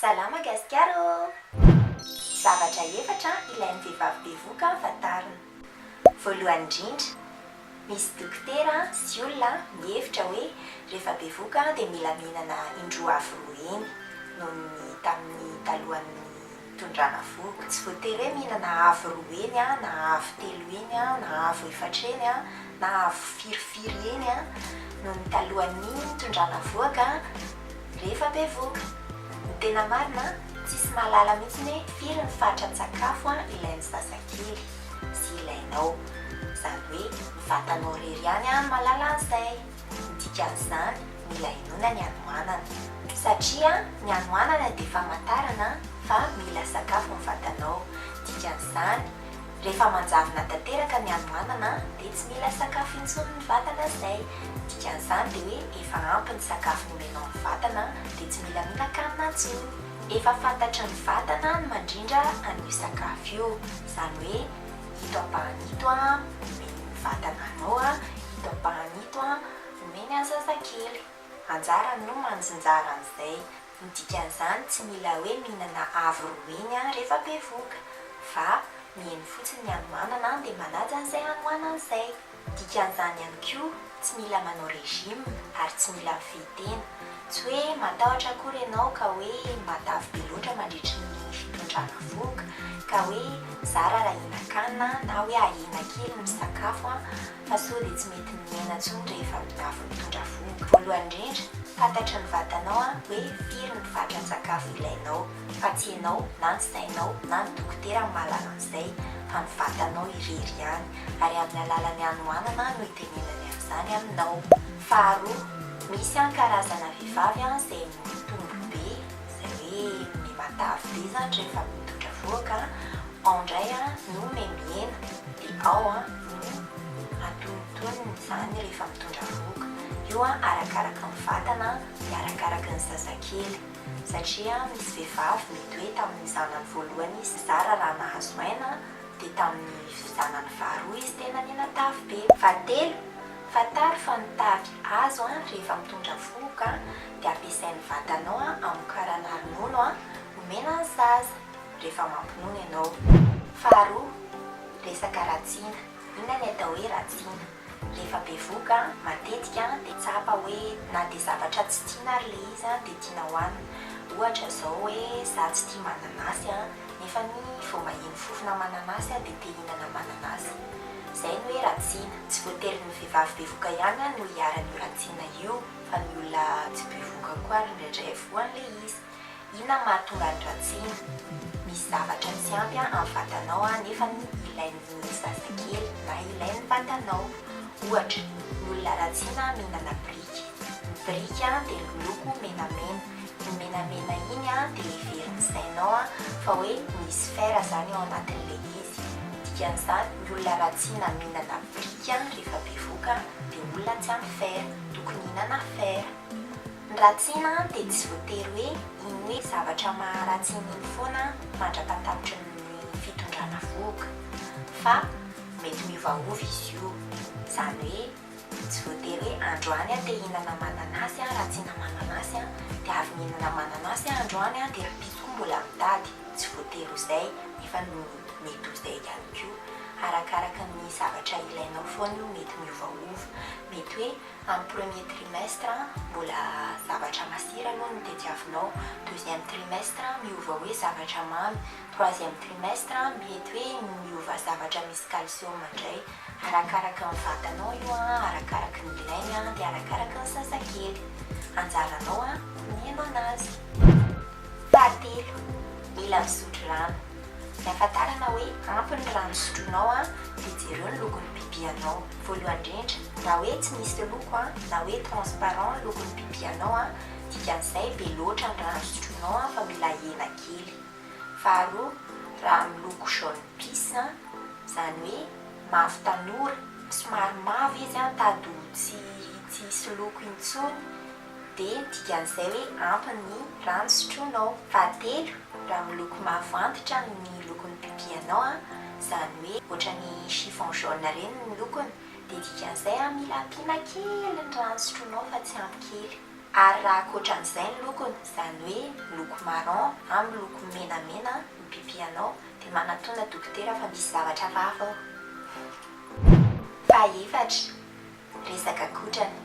Salama Gasikara ô! Zavatra efatra ilain'ny vehivavy bevoka fa tarina. Voalohany indrindra, misy dokotera sy olona mihevitra hoe rehefa bevoka dia mila mihinana indroa avo roa heny noho ny tamin'ny talohan'ny Tondrana vohoka, tsy voatery hoe mihinana avo roa heny an, na avo telo heny an, na avo efatra heny an, na avo firy firy heny an, noho ny talohan'ny tondrana vohoka rehefa bevohoka. Ny tena marina, tsisy mahalala mihitsy hoe firy ny fatran-tsakafo ilain'ny zazakely sy ilainao. Izany hoe ny vatanao irery ihany no mahalala an'izay. Tsy dikan'izany ny mila inoana ny hanoanana, satria ny hanoanana dia famantarana fa mila sakafo ny vatanao, dikan'izany rehefa manjavona tanteraka ny hanoanana dia tsy mila sakafo intsony ny vatana zay, dikan'izany dia hoe efa ampy ny sakafo nomenao ny vatana dia tsy mila mihinan-kanina intsony, efa fantatry ny vatana ny mandrindra an'io sakafo io, izany hoe Ito ampahany ito an, omeny ny vatana anao an, ito ampahany ito an, omeny ny zazakely. Anjarany no manjinjara an'izay. Ny dikan'izany tsy mila hoe mihinana avo roa heny an rehefa bevoka. Fa, miheno fotsiny ny hanoanana an dia manaja an'izay hanoanana izay. Dikan'izany ihany koa, tsy mila manao régime ary tsy mila mifehy tena. Tsy hoe matahotra akory ianao ka hoe matavy be loatra mandritry ny fitondrana vohoka, ka hoe zara raha hihinan-kanina na hoe ahena kely ny sakafo fa sao dia tsy mety miaina intsony rehefa miafy mitondra vohoka. Voalohany indrindra, fantatry ny vatanao hoe firy ny fatran-tsakafo ilainao. fa tsy ianao na ny sainao na ny dokotera no mahalala an'izay fa ny vatanao irery ihany ary amin'ny alalan'ny hanoanana no itenenany an'izany aminao. Faharoa, misy ihany karazana vehivavy izay mitotombo be izay hoe mihomehy matavy be izany rehefa mitondra vohoka, ao indray no mihomehy mihena dia ao no atonontonony izany rehefa mitondra vohoka, io arakaraka ny vatana dia arakaraka ny zazakely. satria misy vehivavy mety hoe tamin'ny zanany voalohany izy zara raha nahazo aina dia tamin'ny zanany faharoa izy tena nena tavy be. Fahatelo, fantaro fa ny tavy azo rehefa mitondra vohoka dia ampiasain'ny vatanao hamokarana ronono homena ny zaza rehefa mampinono ianao. Faharoa, resaka ratsina, inona ny atao hoe ratsina? Rehefa bevoka, matetika dia tsapa hoe na dia zavatra tsy tiana ary ilay izy dia tiana hohanina. Ohatra izao hoe za tsy tia mananasy nefa ny vao maheno fofona mananasy dia te hihinana mananasy. Izay no hoe ratsiana. Tsy voatery ny vehivavy bevoka ihany no iharan'io ratsiana io fa ny olona tsy bevoka koa ary indraindray voan'ilay izy. Inona no mahatonga an'i Ratsiny? Misy zavatra tsy ampy amin'ny vatanao nefa ilain'ny mihitsy zazakely na ilain'ny vatanao. Ohatra, ny olona Ratsina mihinana biriky. Ny biriky dia miloko menamena. Iny menamena iny dia heverin'ny sainao fa hoe misy fer izany ao anatin'ilay izy. Ny dikan'izany, ny olona Ratsina mihinana biriky rehefa bevoka dia olona tsy ampy fer. Tokony hihinana fer. Ny ratsiana dia tsy voatery hoe iny hoe zavatra maharatsy iny iny foana mandra-pahatapitry ny fitondrana vohoka, fa mety miovaova izy io. Izany hoe tsy voatery hoe androany aho te hihinana mananasy aho, ratsiana mananasy aho, dia avy nihinana mananasy aho androany dia rahampitso koa mbola mitady. Tsy voatery ho izay, nefa mety ho izay ihany koa. Arakaraka ny zavatra ilainao foana io, mety miovaova. Mety hoe Amin'ny premier trimestre mbola zavatra masira aloha no tediavinao, deuxième trimestre miova hoe zavatra mamy, troisième trimestre mety hoe miova zavatra misy calcium indray, arakaraka ny vatanao io an, arakaraka ny ilainy an, dia arakaraka ny zazakely. Anjaranao an ny mihaino anazy. Fahatelo, mila misotro rano. Ny ahafantarana hoe ampy ny rano sotroinao an dia jereo ny lokon'ny pipi anao. Voalohany indrindra, raha hoe tsy misy loko a, na hoe transparent lokon'ny pipi anao a, dikan'izay be loatra ny rano sotroinao a fa mila ahena kely. Faharoa, raha miloko jaune pisse a, izany hoe mavo tanora, somary mavo izy a, tady ho tsy tsy hisy loko intsony, dia ny dikan'izay hoe ampy ny rano sotroinao. Fahatelo, raha miloko mavo antitra ny lokon'ny pipianao, izany hoe ohatran'ny chiffon jaune ireny ny lokony, dia dikan'izay mila ampiana kely ny rano sotroinao fa tsy ampy kely. Ary raha ankoatran'izay ny lokony, izany hoe miloko marron na miloko menamena ny pipianao, dia manatona dokotera fa misy zavatra vava ao. Fahaefatra, Resaka kotrana.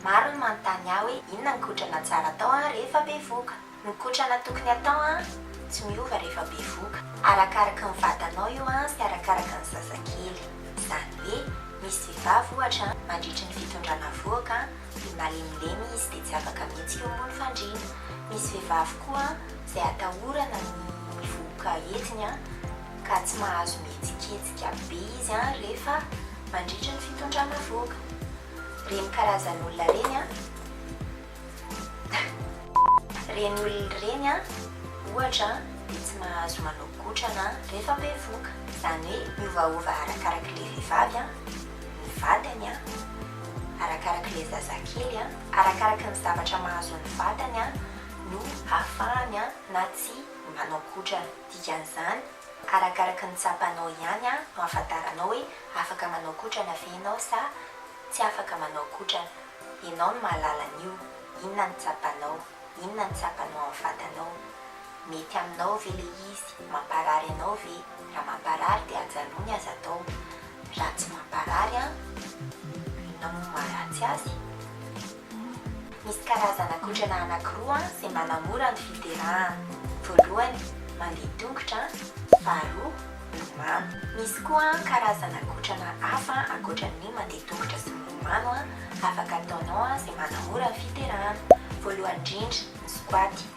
Maro ny manontany ahy hoe inona ny kotrana tsara atao an rehefa bevoka? Ny kotrana tokony hatao an tsy miova rehefa bevoka. Arakaraky ny vatanao io an sy arakaraky ny zazakely. Izany hoe misy vehivavy ohatra an mandritry ny fitondrana vohoka an dia malemilemy izy dia tsy afaka mihitsy io moa ny fandriana. Misy vehivavy koa an izay atahorana ny vohoka hetsiny an. ka tsy mahazo mihetsiketsika be izy an rehefa mandritry ny fitondrana vohoka. Reny karazan'olona reny an. Reny olona reny an ohatra dia tsy mahazo manao gotrana rehefa bevohoka. Izany hoe miovaova arakarak'ilay vehivavy an ny vatany an, arakarak'ilay zazakely an, arakaraky ny zavatra mahazo ny vatany an no ahafahany an na tsia manao gotrana. Dikan'izany, arakaraka ny tsapanao ihany no ahafantaranao hoe afaka manao kotrana ve ianao sa tsy afaka manao kotrana. Ianao no mahalala an'io, inona no tsapanao, inona no tsapanao amin'ny vatanao. Mety aminao ve ilay izy, mamparary anao ve, raha mamparary dia ajanony ny aza atao, raha tsy mamparary an, inona moa no maharatsy azy? Misy karazana kotrana anankiroa izay manamora ny fiderahana. Voalohany, mandeha tongotra, faharoa, milomano. Misy koa karazana kotrana hafa ankoatra ny mandeha tongotra sy milomano afaka ataonao izay manamora ny fiderahana. Voalohany indrindra, ny squat.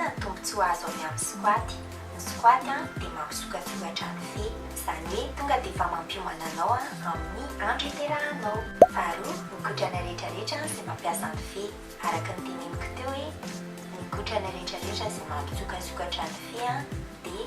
Inona ny tombontsoa azo avy amin'ny squat? Ny squat dia mampisokatsokatra ny fe, izany hoe tonga dia efa mampiomana anao amin'ny andro iterahanao. Faharoa, ny kotrana rehetra rehetra izay mampiasa ny fe. Araka ny teneniko teo hoe ny kotrana rehetra rehetra izay mampisokatsokatra ny fe dia.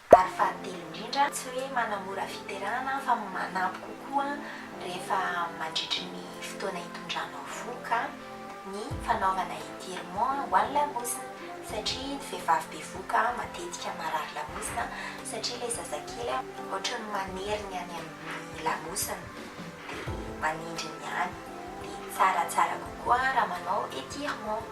Ary fahatelo indrindra, tsy hoe manamora fiterahana fa manampy kokoa rehefa mandritry ny fotoana itondranao vohoka ny fanaovana étirement ho an'ny lamosina satria ny vehivavy bevohoka matetika marary lamosina satria ilay zazakely ohatran'ny manery ny any amin'ny lamosina dia manindry ny any dia tsara tsara kokoa raha manao étirement.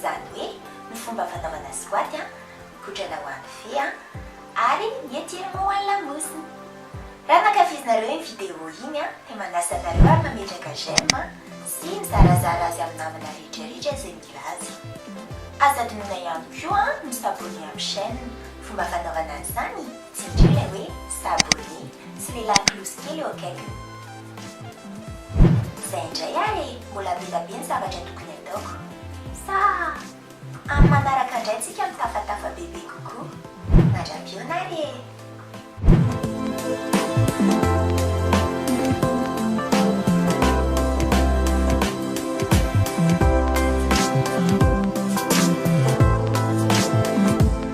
Zany hoe ny fomba fanaovana squat a, mikotrana ho an'ny fe a, ary ny étirement ho an'ny lamosina. Raha nankafizinareo iny vidéo iny a, dia manasa anareo ary mametraka j'aime sy mizarazara azy amin'ny namana rehetra rehetra izay mila azy. Aza adinoina ihany koa ny s'abonner amin'ny chaîne, fomba fanaovana an'izany Tsy mila ilay hoe sabolie, tsy mila klosy kely eo akaikiny. Izay indray ary e, mbola be dia be ny zavatra tokony ataoko. Sa amin'ny manaraka indray tsika mitafatafa bebe kokoa. Mandra-pihaona ary e.